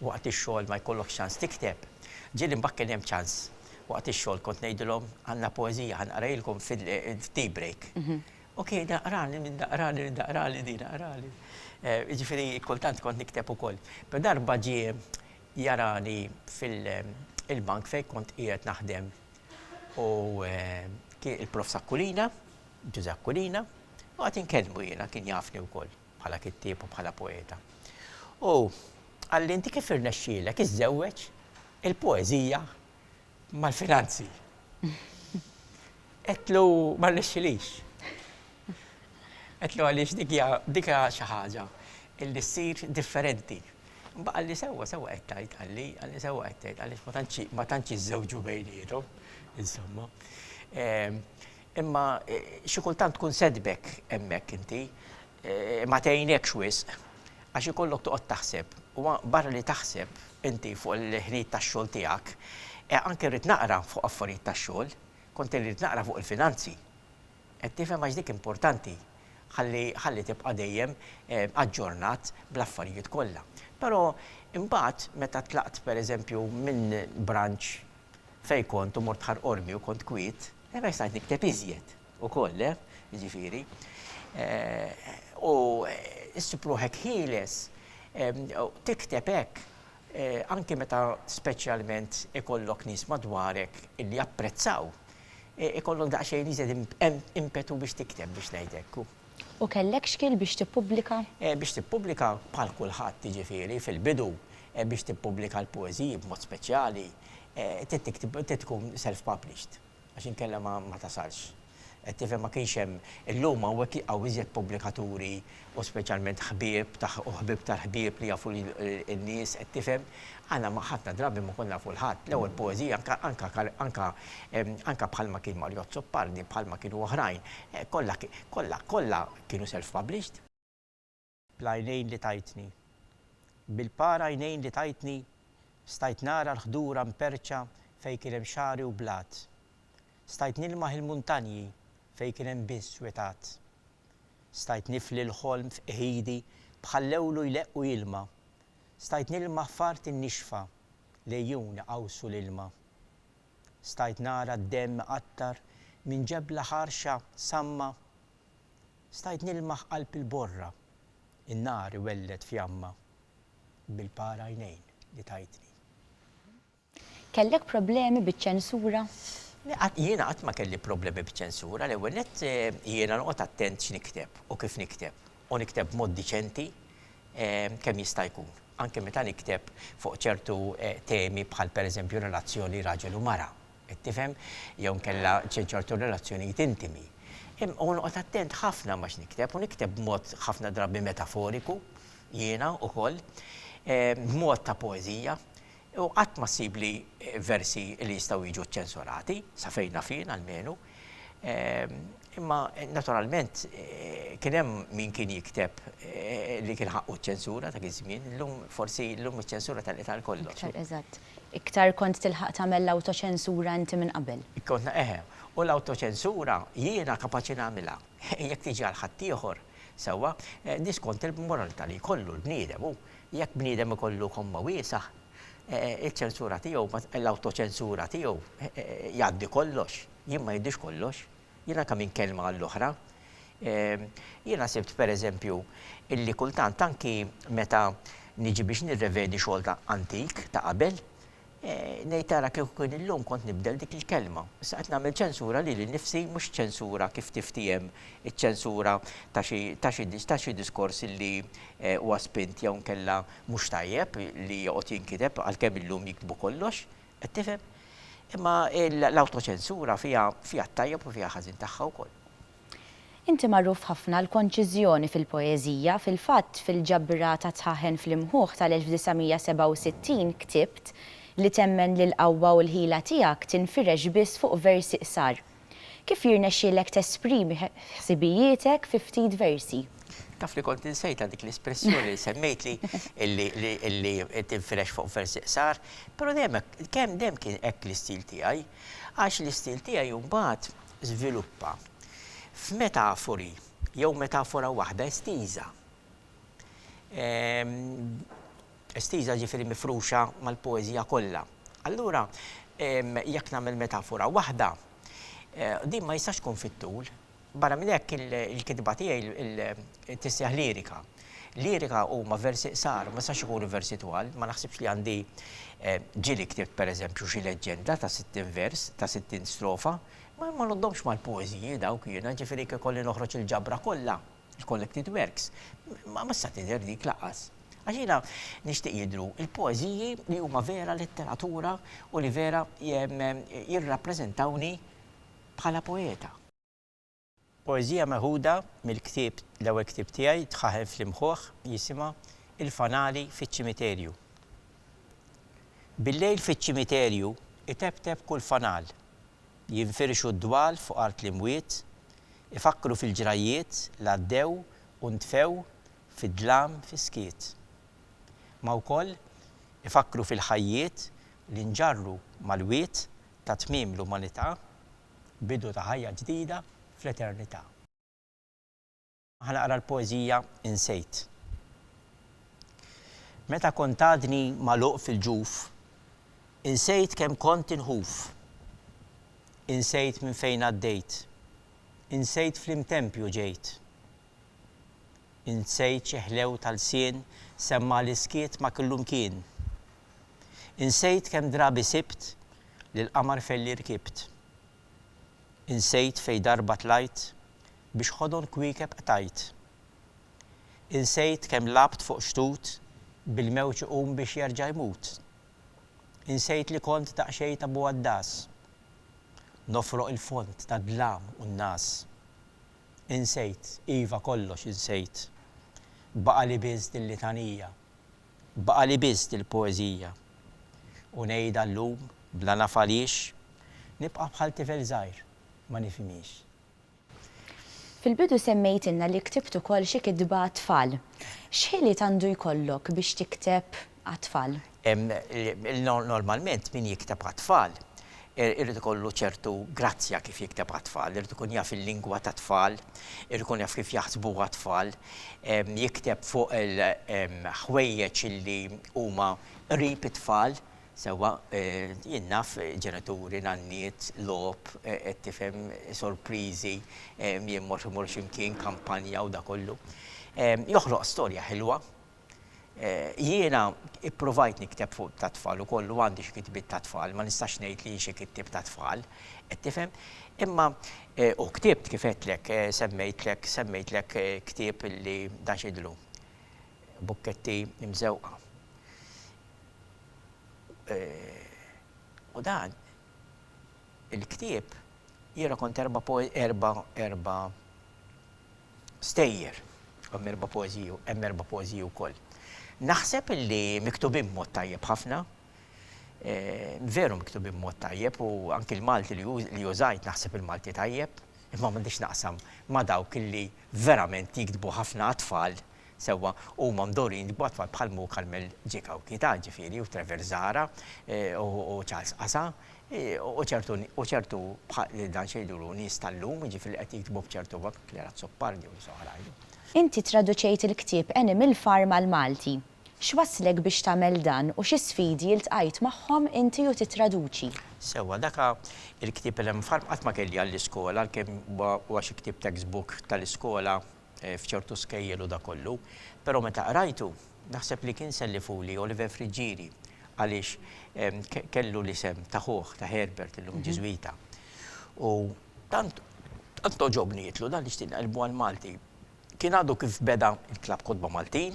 waqt ix-xogħol ma jkollokx ċans tikteb. Ġieli mbagħad kien hemm ċans. Waqt ix-xogħol kont ngħidilhom, għandna poeżija ħa nqrajilkom fit-tea break. Okej, naqrali, min naqrali, min naqrali din, naqrali. Jiġifieri kultant kont nikteb ukoll. Però darba ġie jarani fil-bank fejn kont qiegħed naħdem u kien il-Prof Aquilina, Ġużè Aquilina, u qed inkellmu jiena, kien jafni wkoll. bħala kittieb u bħala poeta. U qalli inti kif irnexxielek iżżewweġ il-poeżija mal-finanzi? Qedtlu ma rnexxilix. Qedtlu għaliex dik hija dik hija xi ħaġa illi ssir differenti. Imma qalli sewwa sewwa qed tgħid qalli, qalli sewwa qed tgħid għaliex ma tantx iżżewġu bejniethom, insomma. Imma xi kultant tkun sedbek hemmhekk inti, ma tgħinekx wisq, għax ikollok toqgħod taħseb. U barra li taħseb inti fuq il-ħinijiet tax-xogħol tiegħek, anke rrid naqra fuq affarijiet tax-xogħol, kont irrid naqra fuq il-finanzi. Qed tifhem għax dik importanti, ħalli ħalli tibqa' dejjem aġġornat bl-affarijiet kollha. Però imbagħad meta tlaqt pereżempju minn branch fejn kont u mort Ħar Qormi u kont kwiet, Hemmhekk stajt nikteb iżjed ukoll, le? Jiġifieri, u ssib ruħek ħieles tikteb hekk anki meta speċjalment ikollok nies madwarek li japprezzaw, ikollok daqsxejn iżjed impetu biex tikteb biex ngħid hekk. U kellek xkiel biex tippubblika? Biex tippubblika, bħal kulħadd, jiġifieri, fil-bidu, biex tippubblika l-poeżiji b'mod speċjali, trid tiktib, trid tkun self-published, għax inkella ma ma tasalx. Qed tifhem, ma kienx hemm, illum hawnhekk hawn iżjed pubblikaturi u speċjalment ħbieb ta' u ħbieb tal-ħbieb li jafu lil in-nies, qed tifhem, Aħna ma ħafna drabi ma konna nafu l-ħadd, l-ewwel poeżija anka anka kal anka anka bħal ma kien Mario Azzopardi, bħal ma kienu oħrajn, kollha kollha kollha kienu self published. Bl-għajnejn li tajtni. Bil-par għajnejn li tajtni stajt nara l-ħdura mperrċa fejn kien hemm xagħri u blat. Stajt nilmaħ il-muntanji fejn kien hemm biss witgħat. Stajt nifli l-ħolm f'qħidi bħal lewlu jleqq u jilma' Stajt nilmaħ f'art innixfa, l-għejun iqawsu l-ilma. Stajt nara d-demm iqattar minn ġebla ħarxa samma. Stajt nilmaħ qalb il-borra, in-nar iwelled fjamma, bil-par għajnejn li tajtni. Kellek problemi biċ-ċensura? Le, qatt, jiena qatt ma kelli problemi biċ-ċensura. L-ewwel nett, jiena noqgħod attent x'nikteb u kif nikteb, u nikteb b'mod diċenti kemm jista' jkun, anke meta nikteb fuq ċertu temi bħal pereżempju relazzjoni raġel u mara, qed tifhem, jew inkella ċertu relazzjonijiet intimi. U noqgħod attent ħafna ma' x'nikteb, u nikteb b'mod ħafna drabi metaforiku, jiena, ukoll, b'mod ta' poeżija. U qatt ma ssib li versi li jistgħu jiġu ċċensurati, sa fejn naf jien almenu. Imma naturalment kien hemm min kien jikteb li kien ħaqqu ċ-ċensura dak iż-żmien, illum forsi llum iċ-ċensura telqet għal kollox. Iktar, eżatt. Iktar kont tilħaq tagħmel l-awtoċensura inti minn qabel. Kont, eħe. U l-awtoċensura jiena kapaċi nagħmilha. Jekk tiġi għal ħaddieħor, sewwa, di skont il-moralità li jkollu l-bniedem hu. Jekk bniedem ikollu komma wiesgħa, iċ-ċensura tiegħu, l-awtoċensura tiegħu jgħaddi kollox. Jien ma jgħaddix kollox. Jien anke minn kelma għall-oħra. Jiena sibt, per eżempju, illi kultant anki meta niġi biex nirrevedi xogħol ta' antik, ta' qabel, Ngħid ara kieku kien illum kont nibdel dik il-kelma. Issa qed nagħmel ċensura lili nnifsi mhux ċensura kif tiftiehem iċ-ċensura ta' xi ta' xi ta' xi diskors li huwa spint jew inkella mhux tajjeb li joqgħod jinkiteb għalkemm illum jiktbu kollox, qed tifhem? Imma l-awtoċensura fiha fiha t-tajjeb u fiha ħażin tagħha wkoll. Inti magħruf ħafna għall-konċiżjoni fil-poeżija, fil-fatt fil-ġabra ta' Tħaħen fl-Imħuħ tal-1967 ktibt li temmen li l-qawwa u l-ħila tiegħek tinfirex biss fuq versi qsar. Kif jirnexxielek tesprimi ħsibijietek fi ftit versi? Taf li kont insejtha dik l-espressjoni li semmejtli li tinfirex fuq versi qsar, però dejjem hekk, dejjem kien hekk l-istil tiegħi. Għax l-istil tiegħi mbagħad żviluppa f'metafori jew metafora waħda estiża, estiża jiġifieri mifruxa mal-poeżija kollha. Allura jekk nagħmel metafora waħda, din ma jistax tkun fit-tul. Barra minn hekk il-kitba tiegħi tisseħ lirika. Lirika huma versi qsar, ma jistax ikunu versi twal, ma naħsibx li għandi ġieli ktibt pereżempju xi leġġenda ta' sittin vers, ta' sittin strofa, ma ngħoddhomx mal-poeżiji dawk jiena, jiġifieri jekk ikolli noħroġ il-ġabra kollha, il-collected works, ma tista' tidher dik lanqas. Għax jiena nixtieq jidhru l-poeżiji li huma vera letteratura u li vera jirrappreżentawni bħala poeta. Poeżija meħuda mill-ktieb l-ewwel ktieb tiegħi tħaħen fl-imħuħ jisimha Il-fanali fiċ-ċimiterju. Bil-lejl fiċ-ċimiterju itebteb kull fanal. Jinfirxu d-dwal fuq art l-imwiet, ifakkru fil-ġrajjiet l-għaddew u ntfew fid-dlam fis-skiet. Ma wkoll ifakkru fil-ħajjiet li nġarru mal-wied ta' tmiem l-umanità bidu ta' ħajja ġdida fl-eternità. Ħa naqra l-poeżija Insejt. Meta kont għadni magħluq fil-ġuf, insejt kemm kont inħuf. Insejt minn fejn għaddejt, insejt fl-imtempju ġejt. Insejt xi ħlew ta' lsien semma' l-iskiet ma' killu mkien. Insejt kemm drabi sibt li l-qamar f'għelli rkibt. Insejt fejn darba tlajt biex ħodon kwiekeb qtajt. Insejt kemm lgħabt fuq xtut bil-mewġ iqum biex jerġa' jmut. Insejt li kont daqsxejn ta' buaddas nofroq il-fond tad-dlam u n-ngħas. Insejt, iva kollox insejt. Baqali biss dil-litanija. Baqali biss dil-poeżija. U ngħidha llum bla naf għaliex, nibqa' bħal tifel żgħir ma nifhimhiex. Fil-bidu semmejtilna li ktibt ukoll xi kitba għat-tfal. X'ħiliet għandu jkollok biex tikteb għat-tfal. Normalment min jikteb għat-tfal irid ikollu ċertu grazzja kif jikteb għat-tfal, irid ikun jaf il-lingwa tat-tfal, irid ikun jaf kif jaħsbuha t-tfal, jikteb fuq il-ħwejjeġ li huma qrib it-tfal, sewwa jien naf ġenituri, nanniet, logħob, qed tifhem, sorpriżi, jien mort imur xi mkien, kampanja u dak kollu. Joħloq storja ħilwa. Jiena ippruvajt nikteb fuq tat-tfal ukoll u għandi xi kitbiet tat-tfal, ma nistax ngħid li hi xi kittieb tat-tfal, qed tifhem? Imma u ktibt kif għedtlek, semmejtlek, semmejtlek ktieb li dan x'jidhirlu? Bukketti mżewqa. U dan il-ktieb jiena kont erba' erba' erba' stejjer. Hemm erba' poeżiji, hemm erba' poeżiji wkoll. Naħseb illi miktubin b'mod tajjeb ħafna. Veru miktubin b'mod tajjeb u anki l-Malti li użajt naħseb il-Malti tajjeb, imma m'għandix x'naqsam ma' dawk illi verament jiktbu ħafna għat-tfal Sewwa, huma mdorrijin b'għotwa bħal Mo Carmel J. Cauchi, ta' Ġifieri, u Trevor Zahra, u Charles Qasa, u ċertu, u ċertu bħal, li dan xi jgħidulu, nies tal-lum, jiġifieri li qed jiktbu b'ċertu mod, Clara Azzopardi u nies oħrajn. Inti ttraduċejt il-ktieb Animal Farm għall-Malti. X'wasslek biex tagħmel dan u xi sfidi iltqajt magħhom inti u tittraduċi? Sewwa, dak il-ktieb Animal Farm qatt ma kelli għall-iskola għalkemm huwa xi ktieb text book tal-iskola f'ċertu skejjel u dak kollu, però meta qrajtu, naħseb li kien sellifuli Oliver Friggieri għaliex kellu l-isem ta' ħuh, ta' Herbert, illum Ġiżwita. U tant għoġobni jitlu dan li xtieq nqallbu għall-Malti. Kien għadu kif beda l-Klabb Kotba Maltin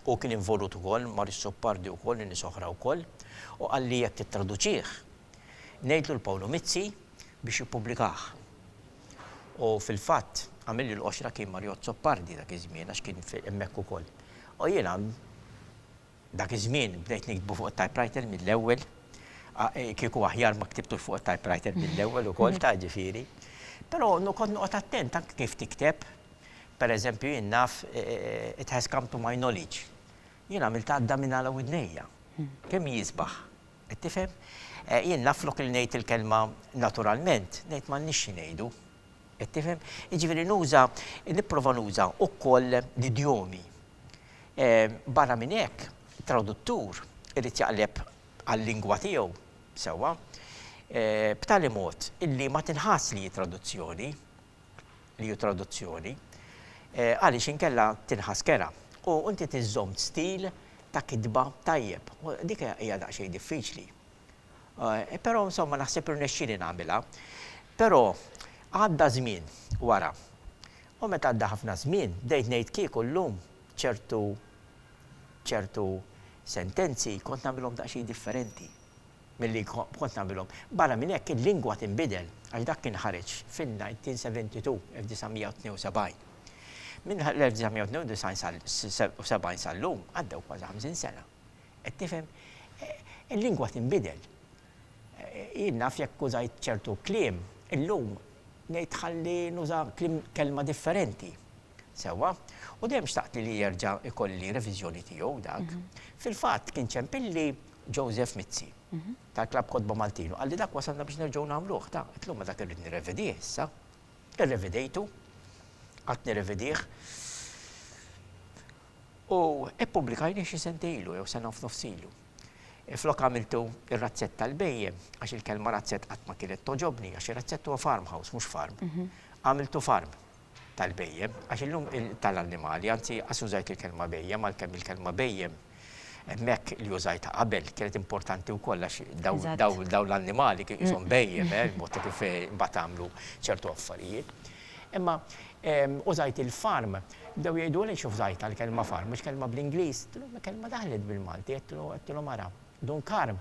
u kien involut ukoll mar is-Suppardi wkoll u nies oħra wkoll u qalli jekk tittraduċih, ngħidlu 'l Pawlu Mizzi biex jippubblikah. U fil-fatt, għamilli l-qoxra kien Mario Azzopardi dak iż-żmien għax kien hemmhekk ukoll. U jiena dak iż-żmien bdejt niktbu fuq it-typewriter mill-ewwel, kieku aħjar ma ktibtux fuq it-typewriter mill-ewwel ukoll ta' ġifieri. Però kont noqgħod attent anke kif tikteb. Per eżempju jien naf it has come to my knowledge. Jien għamilt għadda minn għala widnejja. Kemm hi sbaħ. Qed tifhem? Jien naf flok li ngħid il-kelma naturalment, ngħid m'għandniex xi ngħidu. Qed tifhem? Jiġifieri nuża, nipprova nuża wkoll l-idjomi. Barra minn hekk, traduttur irid jaqleb għal-lingwa tiegħu, sewwa? b'tali mod illi ma tinħass li hi traduzzjoni. li hu traduzzjoni, għaliex inkella tinħass kerha u inti tiżżomm stil ta' kitba tajjeb. Dik hija daqsxejn diffiċli. Però insomma naħseb irnexxieli nagħmilha. Però għadda żmien wara. U meta għadda ħafna żmien, bdejt ngħid kieku llum ċertu ċertu sentenzi kont nagħmilhom daqsxejn differenti. milli kont nagħmilhom. Barra minn hekk, il-lingwa tinbidel, għax dak kien ħareġ fin-1972, 1972. Minn l-1992 sal-1972 sal-lum għaddew kważi ħamsin sena. Qed tifhem? Il-lingwa tinbidel. Jien naf jekk użajt ċertu kliem, illum ngħid ħalli nuża kliem, kelma differenti. Sewwa? U dejjem xtaqt li jerġa' jkolli reviżjoni tiegħu dak. Fil-fatt, kien ċempilli Joseph Mizzi, tal-Klabb Kotba Maltin, u qal li dak wasalna biex nerġgħu nagħmluh, ta, qed l-huma dak irrid nirrevedih issa. Irrevedejtu, qgħadt nirrevedih u ppubblikajnih xi sentejn ilu jew sena u f'nofs ilu. Flok għamiltu r-razzett tal-bhejjem, għax il-kelma razzett qatt ma kienet togħġobni, għax ir-razzett huwa farmhouse, mhux farm, għamiltu farm. tal-bhejjem, għax illum tal-annimali, anzi qas użajt il-kelma bhejjem għalkemm il-kelma bhejjem hemmhekk li użajtha qabel kienet importanti wkoll għax dawn l-annimali kien qishom bhejjem, il-mod ta' kif mbagħad għamlu ċertu affarijiet. Imma użajt il-farm, bdew jgħidu li x'użajtha l-kelma farm, mhux kelma bl-Ingliż, għedtilhom il-kelma daħlet bil-Malti, għedtilhom ara, Dun Karm,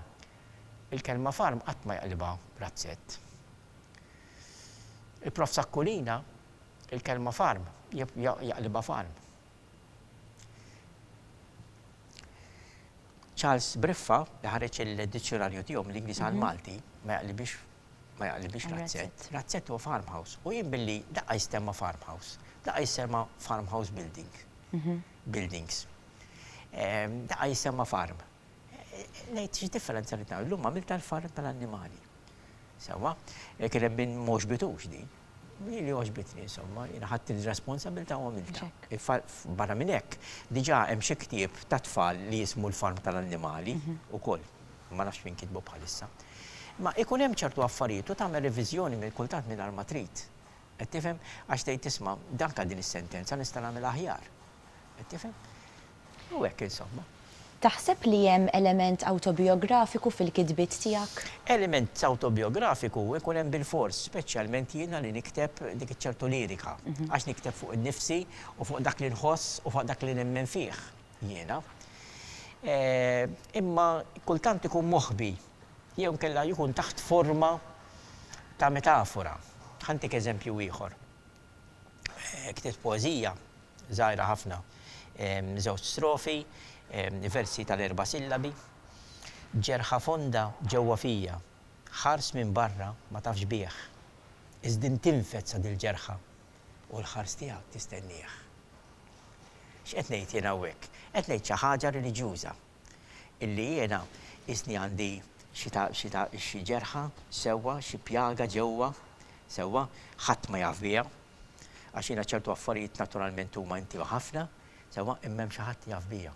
il-kelma farm qatt ma jaqlibha razzett. Il-Prof Sacculina il-kelma farm jaqlibha farm. Charles Briffa li ħareġ il-dizzjonarju tiegħu mill-Ingliż għal mhm. Malti ma jaqlibix ma jaqlibix razzett. Razzett huwa farmhouse u jien billi daqqa jistemma farmhouse, daqqa jistemma farmhouse building. Mhm. Buildings. Daqqa jistemma farm. Ngħid xi differenza rrid nagħmel. Illum għamiltha l-farra tal-annimali. Sewwa, kien hemm min ma għoġbitux din. Hi li għoġbitni insomma, jiena ħadt ir-responsabilità u għamiltha. Barra minn hekk, diġà hemm xi ktieb tat-tfal li jismu l-farm tal-annimali ukoll. Ma nafx min kitbu bħalissa. Imma ikun hemm ċertu affarijiet u tagħmel reviżjoni minn kultant mingħajr ma trid. Qed tifhem? Għax tgħid isma' dan għal din is-sentenza nista' nagħmilha aħjar. Qed tifhem? U hekk insomma. Taħseb li hemm element awtobijografiku fil-kitbiet tiegħek? Element awtobijografiku ikun hemm bilfors, speċjalment jiena li nikteb dik iċ-ċertu lirika, għax nikteb fuq innifsi u fuq dak li nħoss u fuq dak li nemmen fih jiena. Imma kultant ikun moħbi jew inkella jkun taħt forma ta' metafora. Ħa ntik eżempju ieħor. ktibt poeżija żgħira ħafna, żewġ strofi, versi tal-erba' sillabi. Ġerħa fonda ġewwa fija, ħars minn barra ma tafx bih, iżdin tinfed sa dil-ġerħa u l-ħars tiegħek tistennieh. X'qed ngħid jien hawnhekk? Qed ngħid xi ħaġa reliġjuża. Illi jiena qisni għandi xi ta' xi ta' xi ġerħa, sewwa, xi pjaga ġewwa, sewwa, ħadd ma jaf biha, għax jiena ċertu affarijiet naturalment huma intima ħafna, sewwa, imma hemm xi ħadd jaf bija.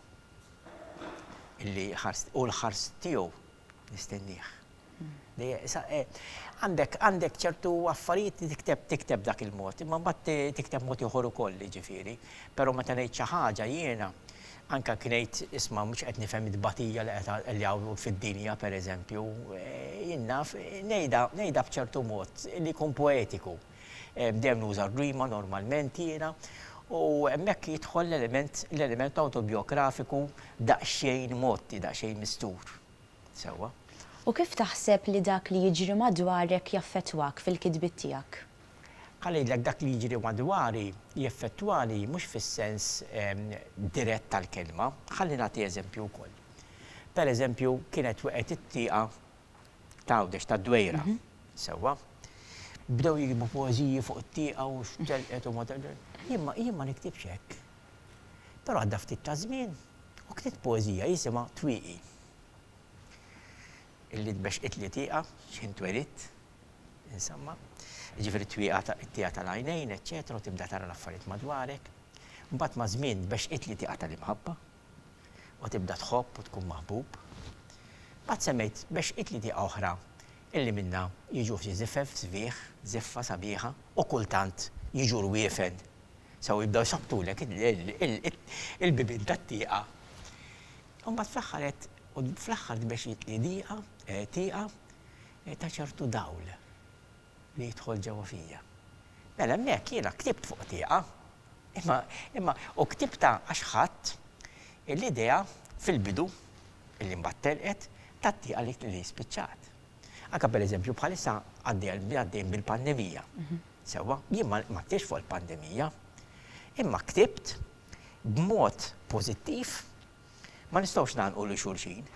Illi ħarst, hu l-ħarst tiegħu. Nistennieh. Għandek ċertu affarijiet li tikteb tikteb b'dak il-mod, imma mbagħad tikteb mod ieħor ukoll jiġifieri. Però meta ngħid xi ħaġa jiena, anke anki ngħid isma' mhux qed nifhem it-tbatija li qed li hawn fid-dinja pereżempju, jien naf ngħidha ngħidha b'ċertu mod li jkun poetiku. Dejjem nuża r-rima normalment jiena u hemmhekk jidħol l-element l-element awtobijografiku daqsxejn mgħotti, daqsxejn mistur. Sewwa. U kif taħseb li dak li jiġri madwarek jaffettwak fil-kitbiet tiegħek? Ħa ngħidlek dak li jiġri madwari jeffettwani mhux fis-sens dirett tal-kelma. Ħalli nagħti eżempju wkoll. Pereżempju kienet weqgħet it-tieqa ta' Għawdex, tad-Dwejra. Sewwa. Bdew jiktbu poeżiji fuq it-tieqa u x'telqet u ma telqet. Jien ma niktibx hekk. Però għadda ftit ta' żmien u ktibt poeżija jisimha Twieqi. Illi tbexxqitli tieqa x'ħin twelidt, insomma. Jiġifieri t-twieqa, it-tieqa tal-għajnejn, eċċetera, u tibda tara l-affarijiet madwarek. Mbagħad maż-żmien tbexxqitli tieqa tal-imħabba. u tibda tħobb u tkun maħbub. Mbagħad semmejt mexqit li dieqa oħra illi minnha jiġu ftit żifef sbieħ, żiffa sabiħa u kultant jiġu rwiefen sew jibdew jsabbtulek il-bibien tad-dieqa. U mbagħad fl-aħħar għedt u fl-aħħar tmexqit li dieqa, tieqa, ta' ċertu dawl li jidħol ġewwa fija. Mela hemmhekk jiena ktibt fuq tieqa, imma, imma, u ktibtha għax ħadt l-idea fil-bidu, li mbagħad telqet, tat-tieqa li spiċċat. Anke pereżempju bħalissa għaddejn bil-pandemija, sewwa, jien ma ktibtx fuq il-pandemija, imma ktibt b'mod pożittiv, ma nistgħux ngħannqu lil xulxin.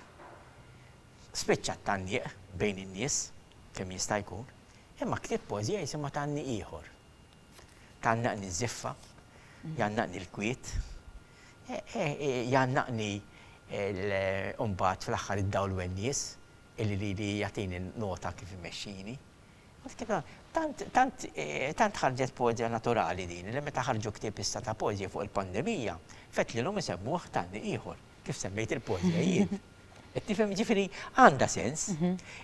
Spiċċa t-tgħanniq bejn in-nies kemm jista' jkun. Imma ktibt poeżija jisimha Tgħanni ieħor. Tgħannaqni ż-żiffa, jgħannaqni l-kwiet, jgħannaqni mbagħad fl-aħħar id-dawl u n-nies illi ridi jagħtini nota kif imexxini. Tant ħarġet poeżija naturali din li meta ħarġu ktieb issa ta' poeżija fuq il-pandemija, fettlilhom isemmuh Tgħanni ieħor. kif semmejt il-poezja jien. Tifhem ġifiri għandha sens,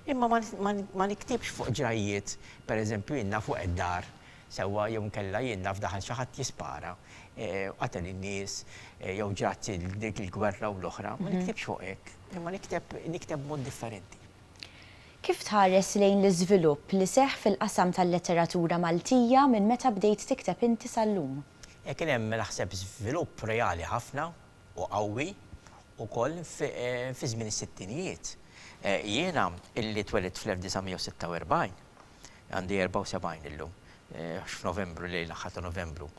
imma ma niktibx fuq ġrajjiet, per eżempju jien fuq id-dar, sewwa jew nkella jien naf daħal xi ħadd jispara, eh, qatel in-nies, eh, jew ġrat dik il-gwerra u l-oħra, ma niktibx fuq hekk, imma nikteb nikteb mod differenti. Kif tħares lejn l-iżvilupp li seħħ fil-qasam tal-letteratura Maltija minn meta bdejt tikteb inti sal-lum? Eh, kien hemm naħseb żvilupp reali ħafna, u qawwi wkoll fi żmien is-sittinijiet. Jiena illi twelidt fl-1946, għandi 74 illum, għax f'Novembru lejl l-aħħar ta' Novembru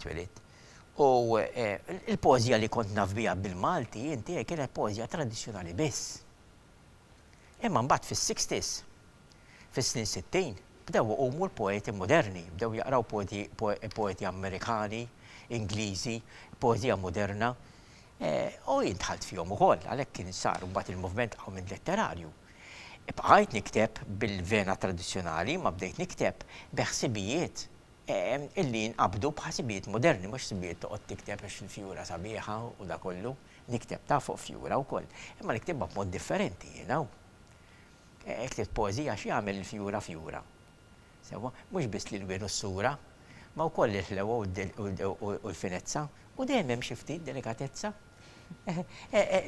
twelidt, u l-poeżija li kont naf biha bil-Malti, inti, kienet poeżija tradizzjonali biss. Imma mbagħad fis-sixties, fis-snin sittin, bdew iqumu l-poeti moderni, bdew jaqraw poeti Amerikani, Ingliżi, poeżija moderna, u jien dħalt fihom ukoll, għalhekk kien sar mbagħad il-moviment qawmien letterarju. Bqajt nikteb bil-vena tradizzjonali imma bdejt nikteb bi ħsibijiet li jinqabdu bħala ħsibijiet moderni, mhux ħsibijiet toqgħod tikteb għax il-fjura sabiħa u dakollu. Nikteb ta' fuq fjura wkoll, imma niktibha b'mod differenti, you know. Ktibt poeżija x'jagħmel il-fjura fjura. Sewwa, mhux biss l-ilwien u s-sura, ma wkoll il-ħlewwa u l-finezza, u dejjem hemm xi ftit delikatezza.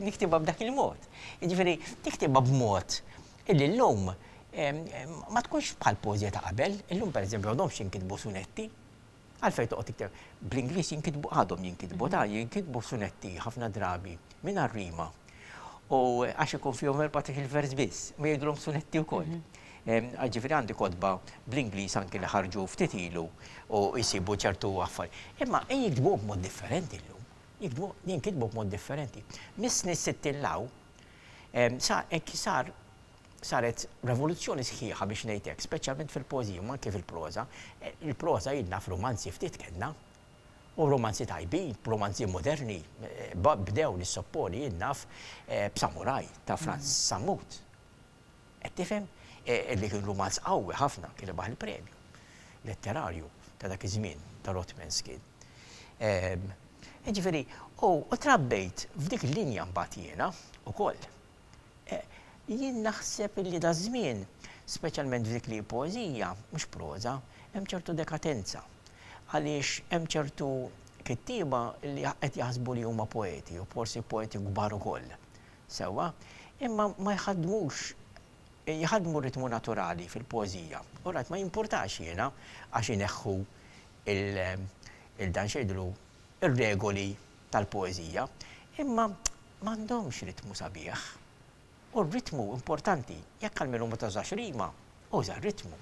Niktibha b'dak il-mod. Jiġifieri, niktibha b'mod illi llum ma tkunx bħall-poeżija ta' qabel. Illum, pereżempju, għadhomx jinkitbu sunetti, Għalfejn toqgħod tikteb? Bl-Ingliż jinkitbu, għadhom jinkitbu, ta' jinkitbu sunetti ħafna drabi mingħajr rima. U għax ikun fihom 14-il vers biss, ma jgħidulhom sunetti wkoll. Ġifieri għandi kotba bl-Ingliż anki li ħarġu ftit ilu u jsibu ċertu affar. Imma jinkitbu b'mod differenti llum. Jinkitbu b'mod differenti. Mis-snin sittin 'l hawn, Sa hekk sar saret revoluzzjoni sħiħa biex ngħid hekk, speċjalment fil-poeżija u anke fil-proża. Il-proża jien naf rumanzi ftit kellna, u rumanzi tajbin, rumanzi moderni, bdew nissopponi jien naf b'Samuraj ta' Frans Sammut. Qed tifhem? Li kien rumanz qawwi ħafna, kien rebaħ il-premju letterarju ta' dak iż-żmien ta' Rothmans kien. Jiġifieri, u trabbejt f'dik il-linja mbagħad jiena ukoll. Jien naħseb illi daż-żmien, speċjalment f'dik li hi poeżija, mhux proża, hemm ċertu dekatenza. Għaliex hemm ċertu kittieba li qed jaħsbu li huma poeti u forsi poeti kbar ukoll. Sewwa, imma ma jħaddmux jħaddmu ritmu naturali fil-poeżija. All right, ma jimpurtax jiena għax ineħħu il il dan x'għidlu r-regoli tal-poeżija, imma m'għandhomx ritmu sabiħ. U r-ritmu importanti. Jekk għalmenu ma tużax rima, uża r-ritmu.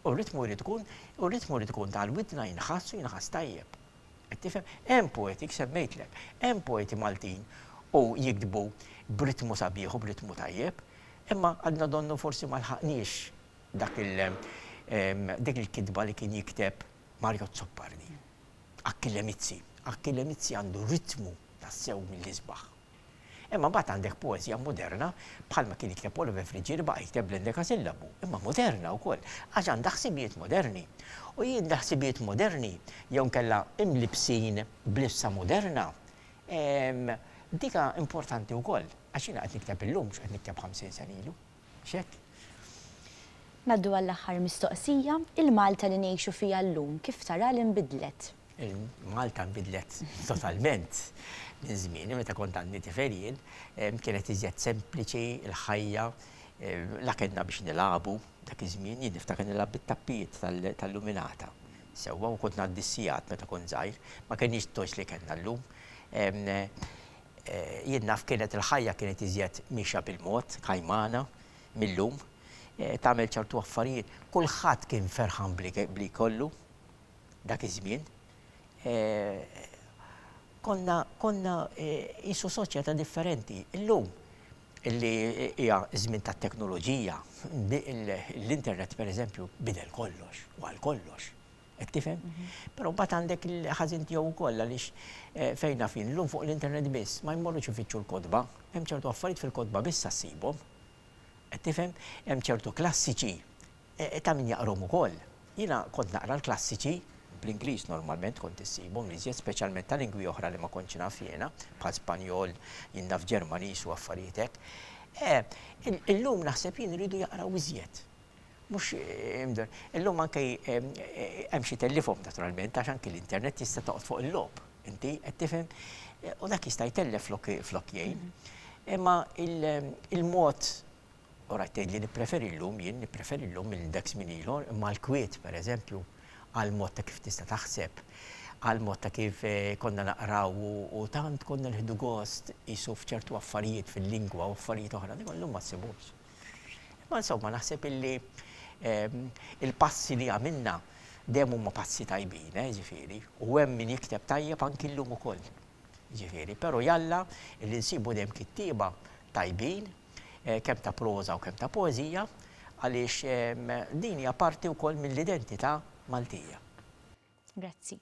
U r-ritmu jrid ikun u r-ritmu jrid ikun ta' għall-widna jinħass u jinħass tajjeb. Qed tifhem? Hemm poeti, semmejtlek, hemm poeti Maltin u jiktbu b'ritmu sabiħ u b'ritmu tajjeb, imma għadna donnu forsi ma lħaqniex dak il dik il-kitba li kien jikteb Mario Azzopardi, Achille Mizzi. Achille Mizzi għandu ritmu tassew mill-isbaħ. Imma mbagħad għandek poeżja moderna, bħalma kien jikteb Oliver Fridge li baqa' jikteb bl-endekasillabu, imma moderna wkoll, għax għandha ħsibijiet moderni. U jien l-ħsibijiet moderni, jew inkella imlibbsin b'libsa moderna, ehm, dika importanti wkoll, għax jiena qed nikteb illum mhux qed nikteb ħamsin sena ilu. Mhux hekk? Ngħaddu għall-aħħar mistoqsija, il-Malta li ngħixu fiha llum kif taraha li nbidlet? Il-Malta nbidlet totalment minn żmieni meta kont għandi tifel jien. Kienet iżjed sempliċi l-ħajja, la kellna biex nilagħbu dak iż-żmien, jien niftakar nilgħab bit-tappijiet tal-luminata sewwa u kont ngħaddi s-sigħat meta kont żgħir, ma kenniex t-toys li kellna llum. jien naf kienet il-ħajja kienet iżjed miexja bil-mod, kajmana, mil-lum. Tagħmel ċertu affarijiet. Kulħadd kien ferħan b'li jkollu dak iż-żmien. Konna, konna qisu soċjetà differenti. Illum li hija ż-żmien tat-teknoloġija, l-internet pereżempju bidel kollox u għal kollox. Qed tifhem? Però mbagħad għandek il-ħażin tiegħu wkoll għaliex eh, fejn naf jien llum fuq l-internet biss ma jmorrux ifittxu l-kotba, hemm ċertu affarijiet fil-kotba biss ssibhom. Qed tifhem? Hemm ċertu klassiċi eh, eh, ta' min jaqrom ukoll. Jiena kont naqra l-klassiċi bl-Ingliż normalment kont issibhom li żjed speċjalment ta' lingwi oħra li ma kontx naf jiena, bħal Spanjol, jien naf Ġermaniż u affarijiet hekk. Eh, il- illum naħseb jien iridu jaqraw iżjed. Mhux imdorr. Illum anke hemm xi tellifhom naturalment għax anke l-internet tista' toqgħod fuq il-logħob inti, qed tifhem? U dak jista' jtellef flok jgħin. Imma il-mod u rajt tgħidli nippreferi llum jien, nippreferi llum minn dak żmien ilu, imma l-kwiet pereżempju għall-mod ta' kif tista' taħseb, għall-mod ta' kif konna naqraw u tant konna nieħdu gost qisu f'ċertu affarijiet fil-lingwa u affarijiet oħra, dak illum ma ssibux. Imma insomma naħseb illi il-passi li għamilna dejjem huma passi tajbin, eh, ġifieri, u hemm min jikteb tajjeb anki llum ukoll. Ġifieri, però jalla li nsibu dejjem kittieba tajbin, kemm ta' proża u kemm ta' poeżija, għaliex din hija parti wkoll mill-identità Maltija. Grazzi.